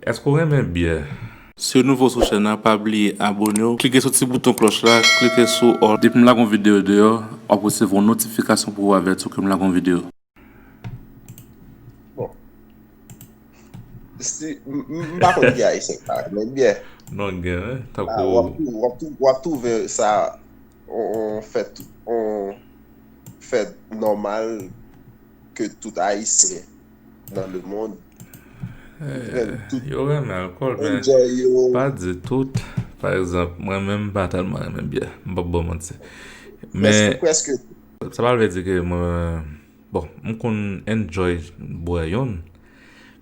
Eske w renmen byè? Si w nouvo sou chèn an pa bliye abone w klike sou ti bouton klòch la klike sou all. Depi m lage yon video deyò wap resevwa yon notifikasyon pou avèti w ke m lage yon video. Bon si m pa konn ki ayisyen ki pa renmen byè. Non gen tankou. Wap twouve sa yon fèt yon fèt nòmal ke tout ayisyen. nan le mond. Yo renmen alkòl men pa di tout. Pa egzanp mwen menm m pa tèlman renmen byè. M pap ba w manti. Men sa pa vle di ke mwen bon m konn enjoy bwè youn.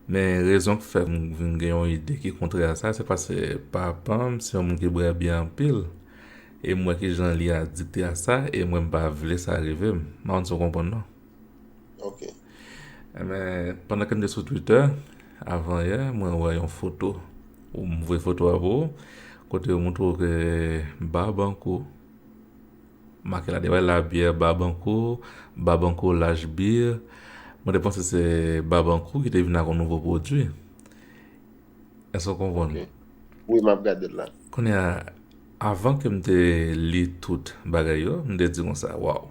Men rezon ki fè m vin gen yon ide ki kontrè a sa se paske papa m se yon moun ki bwè byè anpil. E m wè kijan li adikte a sa e mwen m pa vle sa rive m. M pa konn si w konprann non. Ok. E men, pandan ke m te sou Twitter, avan yè, mwen wè yon foto, ou m voye foto a pou ou, kote yo montre w ke Barbanco, make la deyò, la bière Barbanco, Barbanco Lash Beer, mwen te panse se Barbancourt ki te vin ak yon nouvo pwodui. Èske w konprann? Ok. Wi, m ap gade l la. Kounye a, avan ke m te li tout bagay yo, m te di konsa, waw!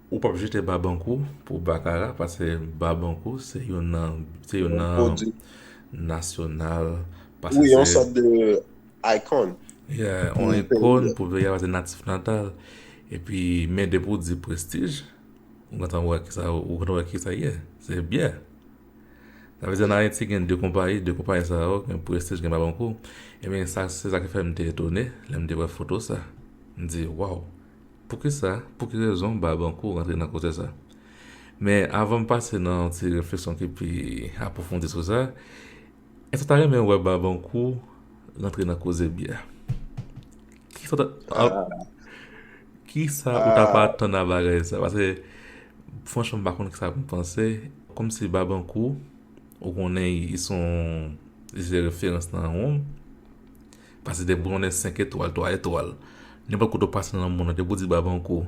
Ou pap jete Babankou pou Bakara pase Babankou se yon nan se yon nan nasyonal pase se. Wi yon sòt de icon. Yeah yon icon pou Veya pase natif natal e pi men depi ou di prestij ou gentan wè ki sa ou gentan wè ki sa ye se byè. Sa vle di an Ayiti gen 2 konpayi 2 konpayi sa yo gen prestij gen Babankou e men sa se sa ki fè m te etone lè m te wè foto sa m di waw. Poukisa, pou ki rezon Barbancourt rantre nan koze sa? Men avan m pase nan yon ti refleksyon ki pi apwofondi sou sa, èske w ta renmen wè Barbancourt rantre nan koze byè? Kisa ou ta pa atann nan bagay sa? Paske franchman m pa konn kisa pou m panse. Kòmsi Barbancourt, ou konnen li se yon referans nan wonm. Pase de bon e 5 etwal 3 etwal nenpòt kote ou pase nan mond lan depi ou di Babankou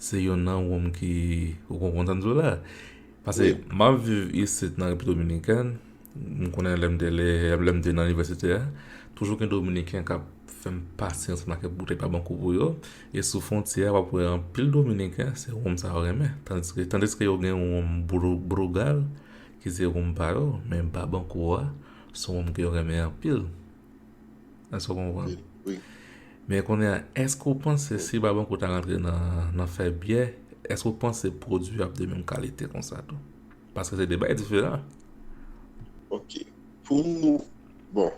se yon nan wonm ki ou konprann sa m di w la pase m ap viv isit nan Repiblik Dominikèn m konnen lè m te le lè m te nan inivèsite a toujou gen dominiken k ap fè m pase ansanm ak kèk boutèy Babankou pou yo e sou fwontyè a w ap wè anpil dominiken se wonm sa yo renmen tandiske tandiske yo gen yon wonm bru brugal ki se wonm pa yo men Babankou a se yon wonm ke yo renmen anpil. Èske w konprann? Wi. Men kounye a, èske w panse si Babankou ta rantre nan fè byè, èske w panse pwodui yo ap de menm kalite konsa tou? Paske se de bagay diferan. Ok. Pou, bon,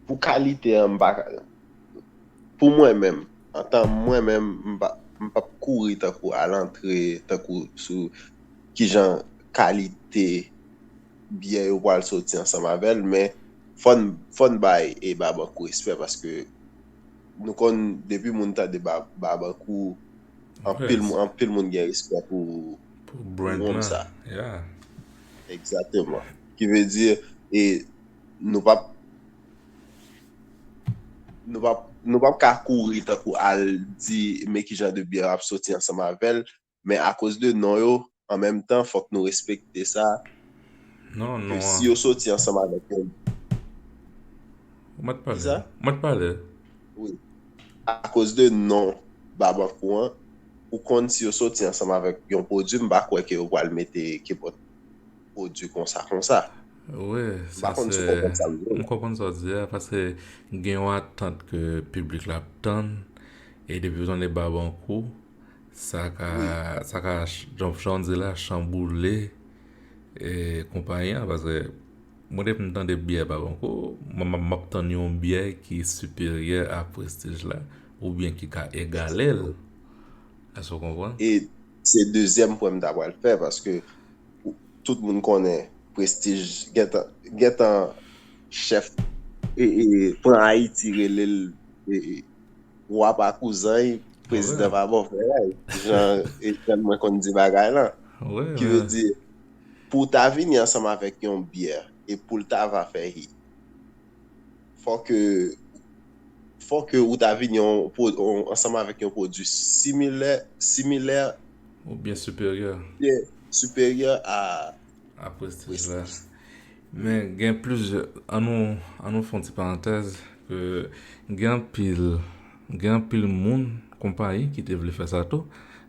pou kalite an m pa ka, pou mwen menm, antan mwen menm, m pa, m p ap kouri tankou al antre tankou sou kijan kalite. byen yo pral soti ansanm avèl men fòn fòn bay e babankou respè paske nou konn depi moun tande ba babankou anpil moun anpil moun gen respè pou pou moun sa egzateman ki vle di e nou pap nou pap nou pap ka kouri tankou al di men kijan de byen ap soti ansanm avèl men akoz de non yo, an menm tan fòk nou respekte sa, ke si yo soti ansanm avèk yon. Mwen t pale. Kisa? Mwen t pale. Wi. Akoz de non Babankou an, ou konn si yo soti ansanm avèk yon pwodui, m pa kwè ke yo pral mete kepòt pwodui konsa konsa. Wi, sa se. M pa konn si w konprann sa m di yo. M konprann sa w di a, paske gen yon atant ke piblik la ap tann, e depi w tann de Babankou. Sa ka janm chan di la chan boule e konpayi an paske mwen depi m tande byè pa bon kou mwen map tann yon byè ki siperyè a prestij la oubyen ki ka egale l èske w konprann? E se dezyèm pwen m ta pral fè paske tout moun konnen prestij gentan gentan chèf e pran Ayiti rele l Wa pa kouzan'y, prezidan pa bò frè'y, jan Ejèn mwen konn di bagay lan. Ki vle di, pou w ta vini ansanm avèk yon byè e pou l ta va fè hit, fò ke, fò ke ou ta vini ansanm avèk yon pwodui similè, similè. Oubyen siperyè. Oubyen siperyè a. A prestij la. Men gen plizyè, an nou, an nou fè yon ti parantèz ke gen anpil, gen anpil moun, konpayi ki te vle fè sa tou,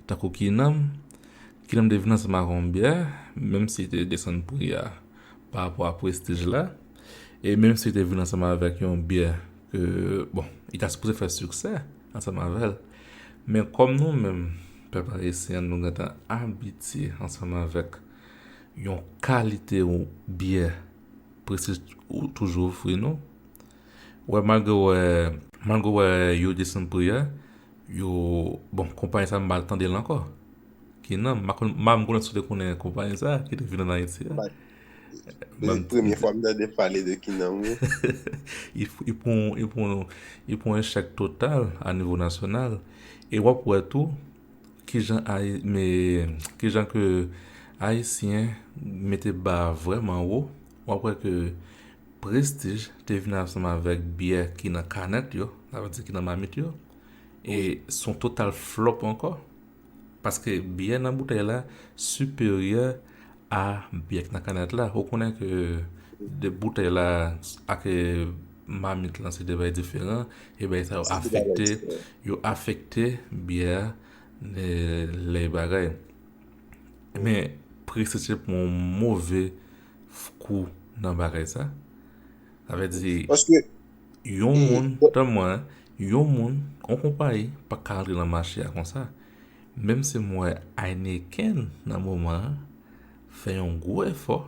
tankou Kinanm, Kinanm te vin ansanm ak yon byè, menm si te desann pri a pa rapò a prestij la, e menm si te vin ansanm avèk yon byè ke, bon, li ta sipoze fè siksè ansanm avè l. Men kòm nou menm, pèp ayisyen an nou gentan abitye ansanm avèk. Yon kalite byè presi ou toujou ofri nou. Wè malgre wè, malgre wè yo desann pri a, yo, bon konpayi sa m pa tande l ankò. Ki nan, m pa konn, m pa menm si w te konnen konpayi sa ki te vin ann Ayiti a. Se premye fwa m tande pale de ki nan wi. Li pran, li pran, li pran echèk total a nivo nasyonal e w ap wè tou Kijan kijan ke Ayisyen mete ba a vrèman wo, w ap wè ke prestij te vini ansanm avèk byè ki nan kanèt yo, sa vle di ki nan mamit yo. E s on total flòp ankò. Paske byè nan boutèy la siperyè Ah byè k nan kanèt la ou konnen ke 2 boutèy la ak mamit lan se 2 bagay diferan e bagay sa yo afekte yo afekte byè a lè y bagay men prese se pran yon move kou nan bagay sa sa vle di yon moun tan mwen yon moun yon konpayi pa ka antre nan mache a konsa Menm si m wè Heineken nan moman an fè yon gwo efò,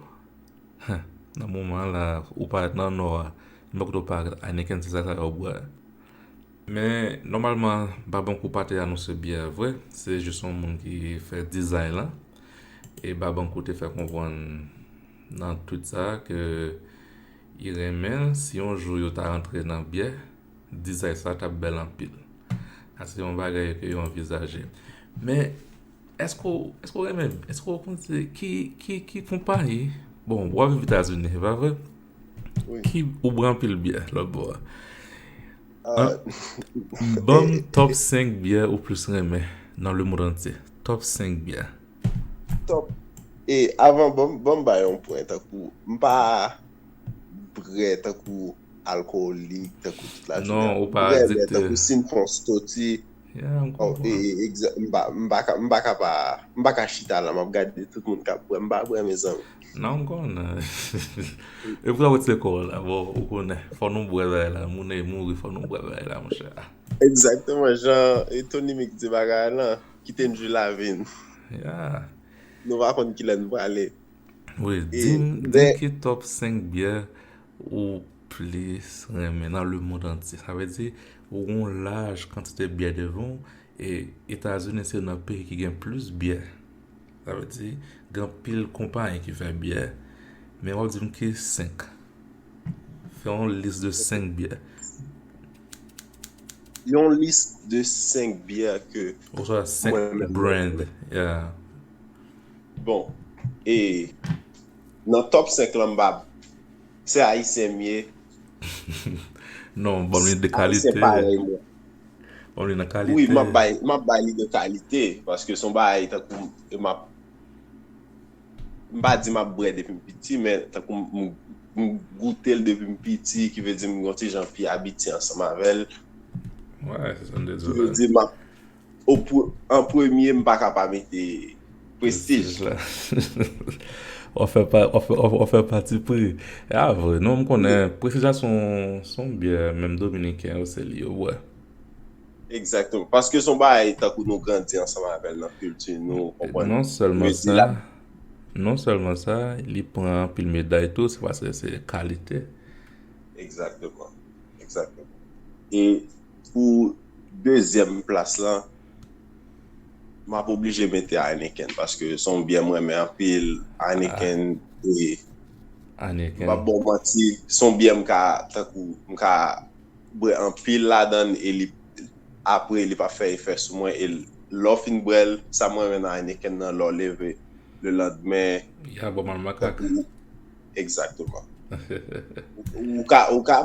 huh, nan moman an la ou pa nan Nò a, men kote ou pa al, Heineken se sa sa yo bwè. Men nòmalman Babankou pa te anonse byè a vre, se jis yon moun ki fè dizay lan. E Babankou te fè konprann nan twit sa a ke li renmen si yon jou yo ta rantre nan byè. dizay sa tap bèl anpil. Sa se yon bagay ke yo anvizaje. Men, eske w, eske w renmen, eske w konn se ki, ki, ki konpayi, bon, wap viv Etazini, se pa vre? Wi. Ki, ou bwè anpil byè, lòt bò a. A. Banm top 5 byè ou plis renmen nan lemond antye. Top 5 byè. Top, e, avan, banm, banm bay yon pwen tankou, m pa, brè tankou alkolik, tankou tout la jounen. Non, ou pa adikte. Brè, brè, tankou si m pran yon stoti. Ya, m konprann. M pa ka, m pa ka pa, m pa ka chita la, m ap gade tout moun k ap brè. M pa brè mezanmi. Non, m konnen. E pou sa ou t se kò w la? Bon, ou konnen, fò nou brè bagay la. Moun e mouri, fò nou brè bagay la, monchè. Egzakteman, jan e Tony Mix di bagay lan, kite n jwi lavi n. Ya. Nou pa konn ki lè n prale. Wi dim ki top 5 byè ou plis renmen nan le mond antye sa vle di ou gon laj kantite byè devan ou e etazini se nan peyi ki gen plis byè sa vle di gen pil konpayi ki fè byè men wap dim ki 5 fè yon lis de 5 byè yon lis de 5 byè ke oswa 5 brand ya Bon e nan top 5 lan m pa se ayisyen m ye? Non banm li de kalite. Ayisyen parèy mwen. Banm li nan kalite. Wi map bay map bay li de kalite paske son bagay tankou e map m pa di map bwè depi m piti men tankou m m goute l depi m piti ki vle di m gon ti jan pi abitye ansanm avè l. Wè se sa m te di w la. Ki vle di map An premye m paka pa mete Prestige la. Ou fè pati pri. E a vre non m konnen Prestige la son byè menm Dominiken yo se li yo bwè. Egzakteman. Paske son bagay tankou nou grandi ansanm avè l nan kilti nou ou konprann. Non sèlman sa li pran anpil meday tou se paske se kalite. Egzakteman. Egzakteman. E. pou dezyèm plas lan m ap oblije mete Heineken paske se yon byè m renmen anpil Heineken e m pap ba w manti se yon byè m ka tankou m ka bwè anpil ladan l e li apre li pa fè efè sou mwen e lè w fin bwè l sa m renmen nan Heineken nan lè w leve lelanndemen ya bon mal makak egzakteman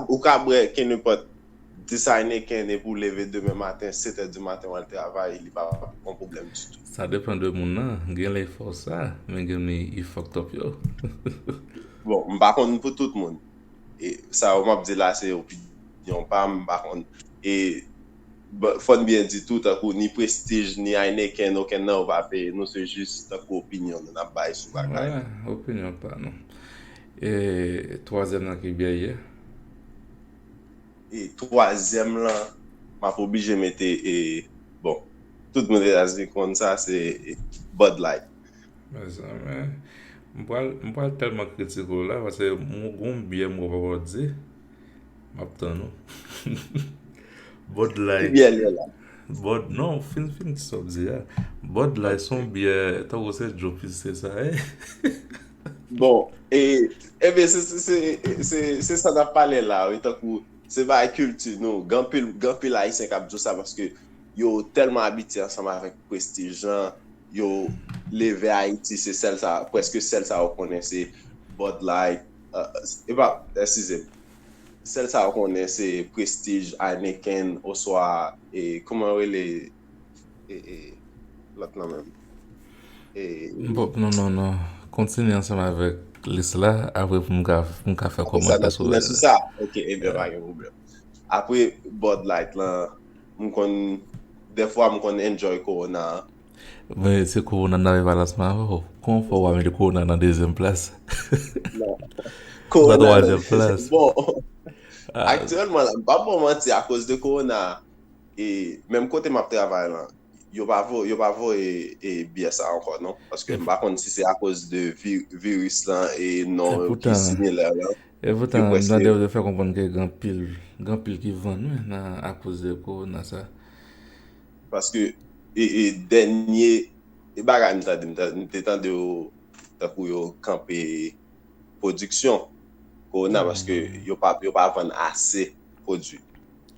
ou ka bwè kenenpòt Designer ken depi ou leve demen maten 7 è di maten wal travay li pa on pwoblèm ditou. Sa depan de moun nan, genlè li fè w sa, men gen mi you fucked up yo. Bon, m pa konn pou tout moun. E sa yo m ap di la se opinyon pa m, m pa konn. E fò n byen di tou tankou ni Prestige ni Heineken okenn nan yo pa peye nou se jis tankou opinyon nou n ap bay sou bagay. Wè, opinyon pa nou. E twazyèm nan ki byè ye? e twazyèm lan map oblije mete e bon tout moun etazini konn sa se bud light. Mezanmi m pral tèlman kritike w la paske gon byè m wè w pa pral di m ap tann ou Bud light Ki byè l ye la? Bud non fin di sa w ap di a Bud light son byè tankou se djopis se sa ye? Bon, e, ebe, se, se, se, se, se sa nan pale la, wi, tankou, se bay kilti nou, gan pil, gan pil Ayisyen kap di w sa paske yo tèlman abitye ansanm avèk prestij lan, yo leve Ayiti se sèl sa, preske sèl sa yo konnen se Bud Light, e pa, eskize m, sèl sa yo konnen se prestij Heineken oswa, e, kouman yo rele? Lòt nan menm. Bon, non, non, non. Kontinye ansanm avèk lis la, apre pou m ka fè kòmantè sou lè. Sou sa, ok, e bè pa gen problem. Apre Bud Light la, m konn, defwa m konn enjoy Corona a. Men, se Corona nan e balans m avè w. Kòman w fè w pa mete Corona nan dezyèm plas? Non. Corona nan dezyèm plas. Bon, aktyèlman la, m pa pou manti, akoz de Corona a, menm kote map travay lan yo pa voye yo pa voye e byè sa ankò non paske m pa konn si se akoz de viris lan e non ki similè lan epoutan m tande yo fè konprann ke gen anpil gen anpil ki vann wi nan akoz de kowona sa paske e dènye e bagay m tande m te tande yo tankou yo kanpe pwodiksyon kowona paske yo pa vann ase pwodwi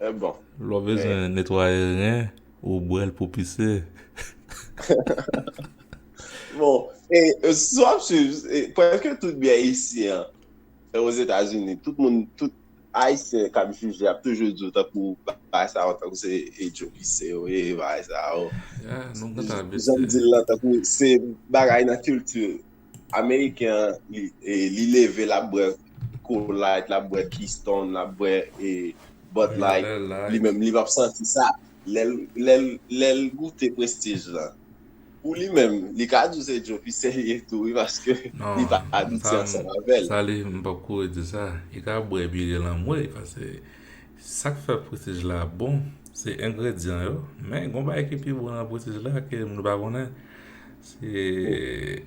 Lè w bezwen netwaye ren ou bwè l pou pise. Bon, si w ap swiv, prèske tout byen isi an, Ozetazini, tout moun, tout Ayisyen k ap jije ap toujou di w tankou bagay sa yo tankou se Joe Pise yo ye, bagay sa yo. Jan m di l lan tankou se bagay nan kilti. Ameriken an li leve l ap bwè Cool Light, l ap bwè Keystone, l ap bwè Bud Light, li menm li pap santi sa. Lè l goute Prestige lan, pou li menm, li ka di w se Joe pi serye tou wi paske li pa abitye ansanm avè l. Non, sa li, m pap kouri di sa. Li ka bwè Bigel anmwey paske Sak fè prestige la bon se engredyan yo men gon bagay ki pi bon nan prestige la ke moun pa konnen se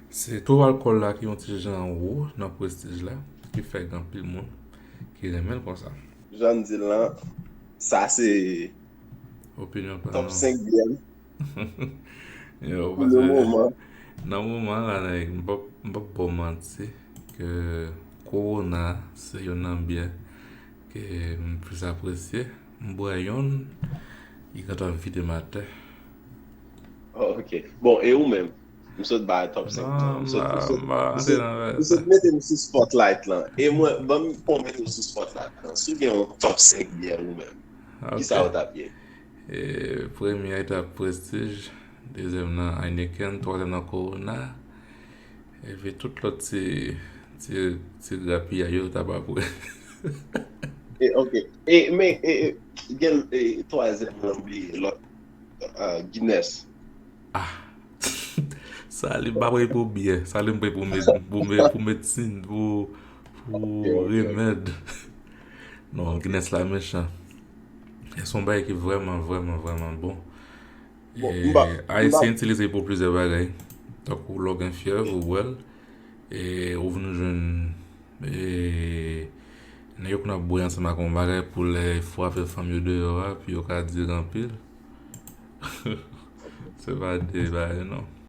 se to alkòl la ki yon ti jan wo nan prestige la ki fè gen anpil moun ki renmen l konsa. Jan m di l lan sa se Opinyon pa m. Top 5 byè m pou le moman. Nan moman la nèg m pap m pap ba w manti ke Corona se youn nan byè Ke m plis apresye. M bwè yonn ki gentan vide m atè. Ok. Bon, e ou menm? M sot ba a top 5 lan. M sot mete m sou spotlight lan. E mwen, ban m pou mete w sou spotlight lan. Si w gen yon top 5 byè ou menm, kisa ou t ap ye? E premye a t ap Prestige, dezyèm nan Heineken, twazyèm nan Corona. Epi tout lòt ti ti grapiyay yo ta pap wè. E ok. E men e gen e twazyèm lan m bliye lòt Guinness. Ah Salim pa peye pou byè. Salim peye pou med pou med pou medsin pou pou remèd. Non Guinness la mechan. E son bagay ki vrèman vrèman vrèman bon. Ayisyen itilize pou plizyè bagay. Tankou lè w gen fyèv ou bwè l. Ou vin jwenn nèg yo konn ap bwè ansanm ak yon bagay pou lè fwa fè fanm yo deyò a pou yo ka dire anpil. Se pa de bagay non.